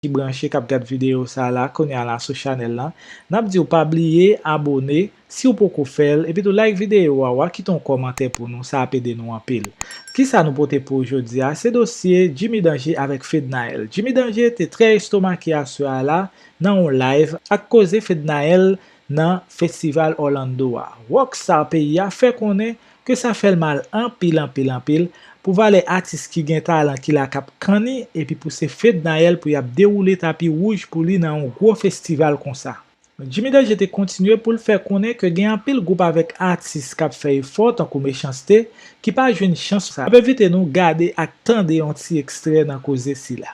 ki branche kap gad video sa la kounya la sou chanèl lan nap diw pa bliye abone siw poko fèl epitou like video a wa kite yon kòmantè pou nou sa ap ede nou anpil kisa nou pote pouw jodia se dosye Jimmy Danger avèk Fednaelle Jimmy Danger te trè estomake aswè a la nan yon live ak koze Fednaelle nan festival Orlando a rockstar peyi a fè konnen ke sa fèl mal anpil anpil anpil pou valè atis ki gen talan ki la kap kanni epi pou se Fednaelle pou yap dewoule tapi wouj pou li nan yon gwo festival konsa. Jimmy Danger te kontinye poul fè konnen ke gen anpil gwoup avèk atis kap fè efò tankou Mechanste ki pa jwenn chans sa. Map envite nou gade ak tande yon ti ekstrè nan koze sila.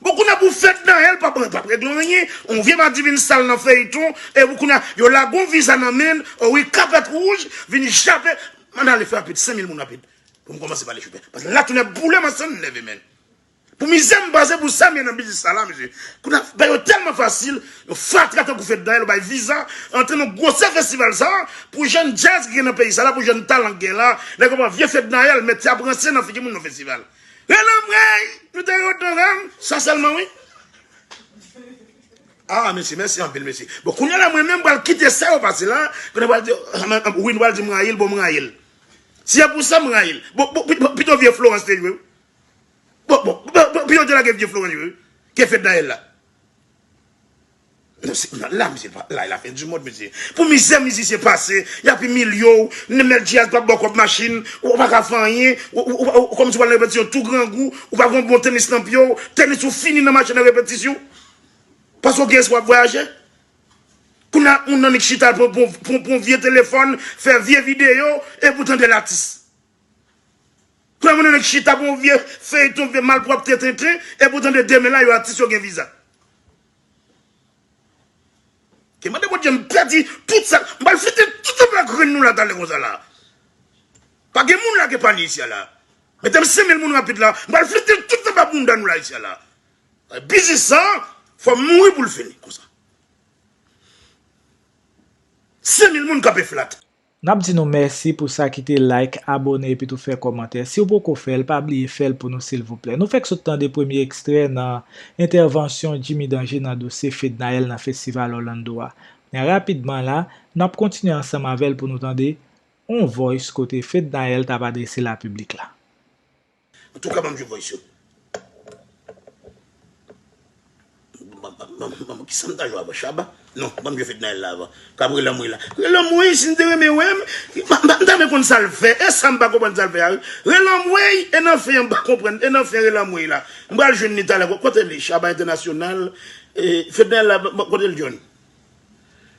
Bon kounya pou fedna el pap regle anyen on vye madivin sal nan feyton epou kounya yo lagon viza nan menl o wi kapèt rouj vin jape man ale fè rapid 5000 moun rapid poum komanse pale choufè paske la toune boulem an sèm nève menn pou mizèm pase pou sam ye nan biznis sa la mesye kounya bayo tèlman fasil yon fatra tankou fedna el bay viza antre nan gwosè festival sa pou jèn djaz ki gen nan peyi sa la pou jèn talan ki gen la nèg yo pran vye fedna el mèt ap ranse nan figi moun nan festival. Rele anmweyy nou te ront nan ram sa selman wi. Ah mesye mèsi anpil mesye. Bon kounya la mwen menm pral kite sa yo pase la, kounye pral di wi nou pral di m rayi l bon m rayi l. Si e pou sa m rayi l. Bon bon pito vye Florence te jwe wi. Bon bon pito te lage vye Florence jwe wi ke Fednaelle la. La misye pa la e la fen di mond mesye pou mizè mizisyen pase yap imilye w nenel diaz pap baw kob machin ou pa ka fè anyen ou kòmanse wal nan repetisyon tou grangou ou pa gon bon tenis nan pye w tenis ou fini nan mache nan repetisyon paske w gen espwa ap vwayaje kounye a moun nan li k chita pou pou pou vye telefòn fè vye videyo epi w tandel atis. Kwe mwen nan nèg chita pou yon vye feyton vye malpwopte tenten epi w tande demen la yo atis yo gen viza. Ke mande Bondye m pèdi tout sa m pral fete tout sa plat grenn nou la talè konsa la. Pa gen moun la ke panye isi a la. Mete m 5000 moun rapid la m pral fete tout anba bounda nou la isi a la. Biznis sa fò m mouri pou l fini konsa. 5000 moun kanpe flat. Nap di nou mèsi pou sa ki te like, abone epi tou fè kòmantè. Siw poko fèl pa bliye fèl pou nou silvouplè. Nou fèk sot tande premye ekstrè nan entèvansyon Jimmy Danger nan dosye Fednaelle nan Festival Orlando a. Men rapidman la, nap kontinye ansanm avèl pou nou tande on voice kote Fednaelle tap adrese la piblik la. Antouka banm jwe voice yo. Banm kisam ta jwe avan Shabba? Non banm jwe Fednaelle la avan. Kap relanm wi la. Relanm wi sim te renmen wem. Mta renmen konn sal fè. Esam pa konprann sal fè a wi. Relanm weyy e nan fen an mpa konprann e nan fen relanm weyy la. Mpral jwenn li talè. Kote li Shabba International Fednaelle la kote l jwenn.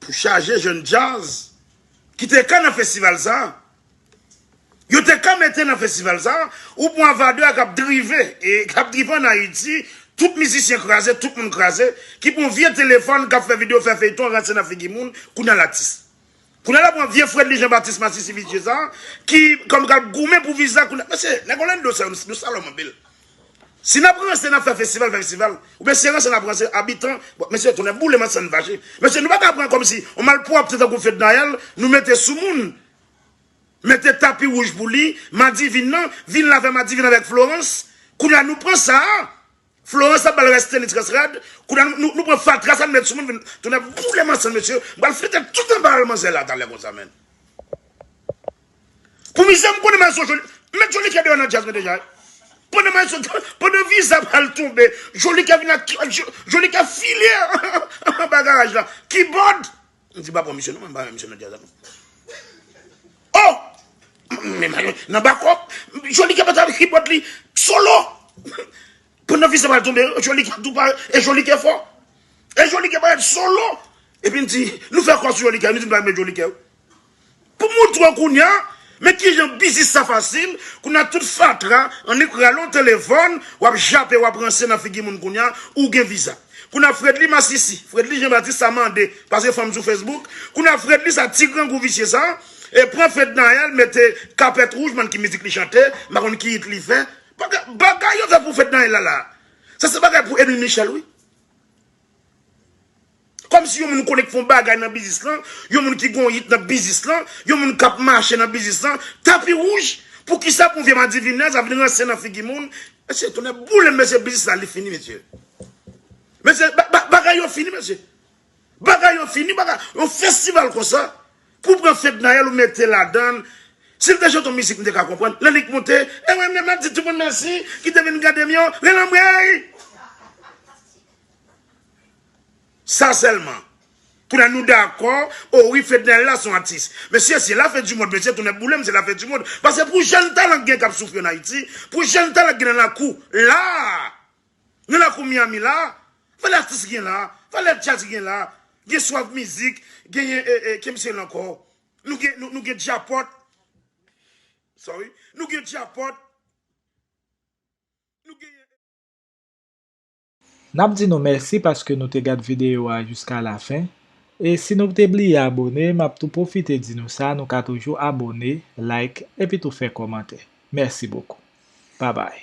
Pou chaje jèn djaz ki te ka nan festival sa a. Yo te ka mete nan festival sa a, ou pran Avadra k ap drive, e k ap drive ann Ayiti, tout mizisyen kraze, tout moun kraze, ki pran yon vye telefòn k ap fè videyo, fè feyton, ranse nan figi moun, kounye a l atis. Kounye a la pran vye fredly jean baptiste masisi visye sa ki kòm kap goumen pou viza kounye a mesye nèg orlando sa yo nou salòm anpil si nap ranse nap fè festival fè festival oubyen si se ranse nap ranse abitan bon mesye tonnè boulem an sann fache mesye nou paka pran kòmsi yon malpwòpte tankou fednaelle nou mete sou moun mete tapi wouj pou li madivin nan vin la fè madivin avèk florence kounye a nou pran sa Florence ap bal rès tenis rès rad kounya nou pran fatra sa nou met sou moun vin tounen ap boule manzè mesye m pral flite tout anba al manzè la talè konsa menn pou mizè m konnen maestro joly m met jolikè deyò nan djaz mwen deja wi pandan maestro pandan viza pral tonbe jolikè vin ak jolikè file anba garaj la kibòd M di pa pran misye non mwen m pa renmen misye nan jazz la non oh men mayo nan bakòp Joly kèm antre avèk kibòd li solo pandan fis la pral tonbe Joly kèm tou pare e Joly kè fò e Joly kè parèt solo epi m di nou fè kò sou Joly kè nou di m pa renmen Joly kè. Pou moun tro kounya men kijan biznis sa fasil kounya tout fatra annik rale yon telefòn wap jape wap ranse nan figi moun kounya ou gen viza kounya fredly masisi fredly jean baptiste sa mande pase fanm sou facebook kounya fredly sa ti grangou visye sa e pran fednaelle mete kapèt wouj m'en ki mizik li chante m pa konn ki it li fè bagay yo fè pou fednaelle la sa se bagay pou edwin michel wi. Kòm si yon moun konnen k fè yon bagay nan biznis lan, yon moun ki gen yon yit nan biznis lan, yon moun k ap mache nan biznis lan, tapi wouj, poukisa pou vye madivinè sa vin ranse nan figi moun, mesye tonnè boulem mesye biznis la li fini mesye. Mesye bagay yo fini mesye. Bagay yo fini bagay yon festival konsa pou pran fednaelle ou mete ladann si l te chante yon mizik m te ka konprann lè li k monte ewen m ap di tout moun mèsi ki te vin gade m yo relanmweyy. Sa selman. Koulya nou dakò o wi fednel la son atis. Mesye se la fen du mond mesye tonè boulem se la fen du mond pase pou jèn talan k gen kap soufri an ayiti pou jèn talan k gen nan lakou la nan lakou miami la valè atis gen la valè djaz gen la gen swaf mizik genyen kem sel ankò nou gen nou gen djapòt sorry nou gen djapòt nou genyen. Nap di nou mèsi paske nou te gad videyo a jiska lafen, e si nou te bliye abone map tou pwofite di nou sa nou ka toujou abone, like epi tou fè kòmantè. Mèsi bokou. Babay.